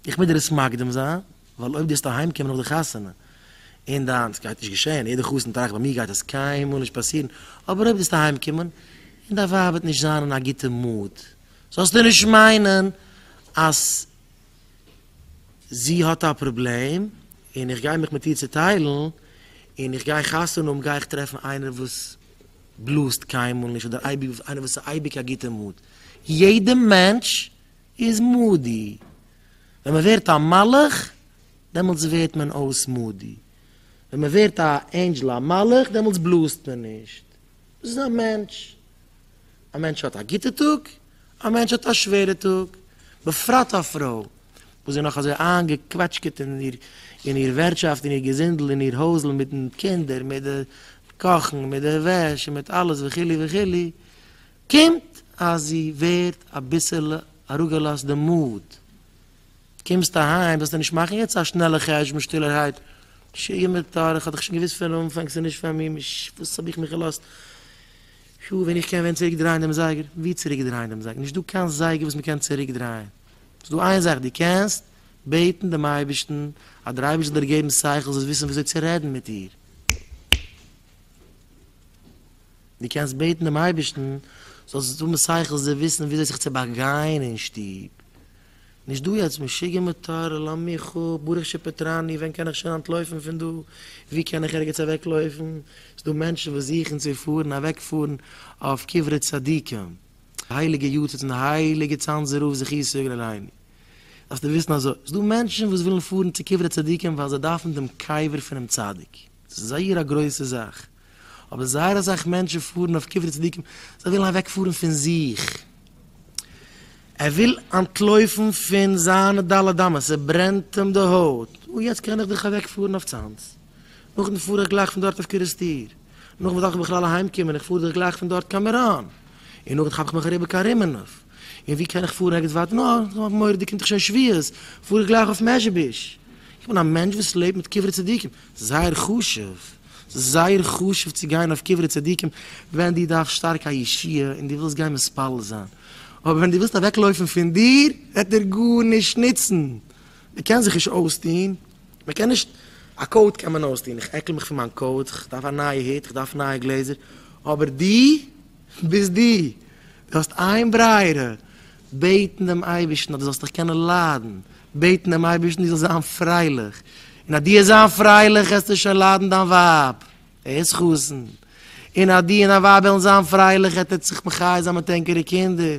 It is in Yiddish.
איך מיז דיר עס מקדים זיין, ווייל אויב דו וועסט אהיים קומען נאך די חתונה, און דיין, עס גייט נישט געשען, יעדער חתן טראכט ביי מיר גייט עס קיינמאל נישט פאסירן, אבער אויב דו וועסט אהיים קומען, און דיין ווייב וועט נישט זיין אין א גוטע מוד, זאלסטו נישט מיינען אז זי האט א פראבלעם, און איך גיי מיך מיט איר צוטיילן, און איך גיי חתונה האבן גיי איך טרעפן איינער וואס בלאזט קיינמאל נישט, אדער אייביג, איינער וואס איז אייביג א גוטע מוד, יעדע מענטש איז מאדי. ווען מען ווערט א מלאך, דעמאלטס ווערט מען אויס מאדי. ווען מען ווערט א ענדזשל א מלאך, דעמאלטס בלאזט מען נישט. דאס איז א מענטש. א מענטש האט א גוטע טאג, א מענטש האט א שווערע טאג. בפרט א פרוי, וואס איז נאך אזוי איינגעקוועטשקעט אין איר אין איר ווערטשאפט, אין איר געזונדל, אין איר הויזל, מיטן קינדער, מיט די קאכן, מיט די וועש, און מיט אלעס וכו' וכו'. קומט אז זי ווערט אביסעלע אראפגעלאזט די מאד, קומסט אהיים זאלסטו נישט מאכן יעצט א שנעלע חשבון שטילערהייט, שו י מותר, איך האב דאך שוין געוואוסט פון אנפאנג ס'איז נישט פאר מיר, משא כ וואס האב איך מיך געלאזט, שו י ווען איך קען ווען צוריק דרייען דעם זייגער, ווי צוריק דרייען דעם זייגער, נישט דא קיין זייגער וואס מ'קען צוריק דרייען, ס'איז דא איין זאך דו קענסט, בעטן דעם אייבערשטן אז דער אייבערשטער זאל דיר געבן שכל זאלסט וויסן וויאזוי צו רעדן מיט איר. דו קענסט בעטן דעם אייבערשטן זאלסט האבן שכל זיך וויסן וויאזוי זיך צו באגיין אין שטוב, נישט דא יעצט, משוגע מטורלל, לאמיכו, ברוך שפטרני, ווען קען איך שוין אנטלויפן פון דא, וואו קען איך ערגעץ אוועקלויפן, ס'איז דא מענטשן וואס זוכן צו פארן, אוועקפארן אויף קברי צדיקים, די הייליגע יו ט און די הייליגע צאנזער רב זכי' סגל עלינו, דארפסטו וויסן אזוי, ס'איז דא מענטשן וואס ווילן פארן צו קברי צדיקים ווייל זיי דארפן דעם קבר פונעם צדיק. ס'איז זייער א גרויסע זאך, אבער זייער אסאך מענטשן פארן אויף קברי צדיקים, זיי ווילן אוועק פארן פון זיך, ער וויל אנטלויפן פון זיינע ד' אמות, ס'ברענט אים די הויט, נו יעצט קען איך דאך אוועק פארן אויף צאנז, נאכדעם פאר איך גלייך פון דארט אויף קערעסטיר, נאכדעם וועל איך בכלל אהיים קומען, איך פאר דאך גלייך פון דארט קיין מירון, און נאכדעם כאפ איך מיך אריבער קיין רימנוב, און ווי קען איך פארן ערגעץ ווייטער, נו נאכדעם אויף מורא'דיג קומט דאך שוין שביעות, פאר איך גלייך אויף מעזשביזש, איך בין א מענטש וואס לעבט מיט קברי צדיקים, זייער חשוב, זייער חשוב צו גיין אויף קברי צדיקים ווען דו דארפסט שטארק א ישועה און דו ווילסט גיין מתפלל זיין, אבער ווען דו ווילסט אוועקלויפן פון דיר וועט דיר גארנישט נוצן, מען קען זיך נישט אויסטון, מען קען נישט, א קאוט קען מען אויסטון, איך עקל מיך פון מיין קאוט, איך דארף א נייע הוט, איך דארף נייע גלעזער, אבער דו ביסט דו, דו האסט איין ברירה, בעטן דעם אייבערשטן אז דו זאלסט דיך קענען ליידן, בעטן דעם אייבערשטן דו זאלסט זיין פרייליך, און אז דו העסט זיין פרייליך העסטו שוין ליידן דיין ווייב, ער איז חתן, און אז דו און דיין ווייב וועלן זיין פרייליך העט עטץ זיך מחי' זיין מיט ענקערע קינדער.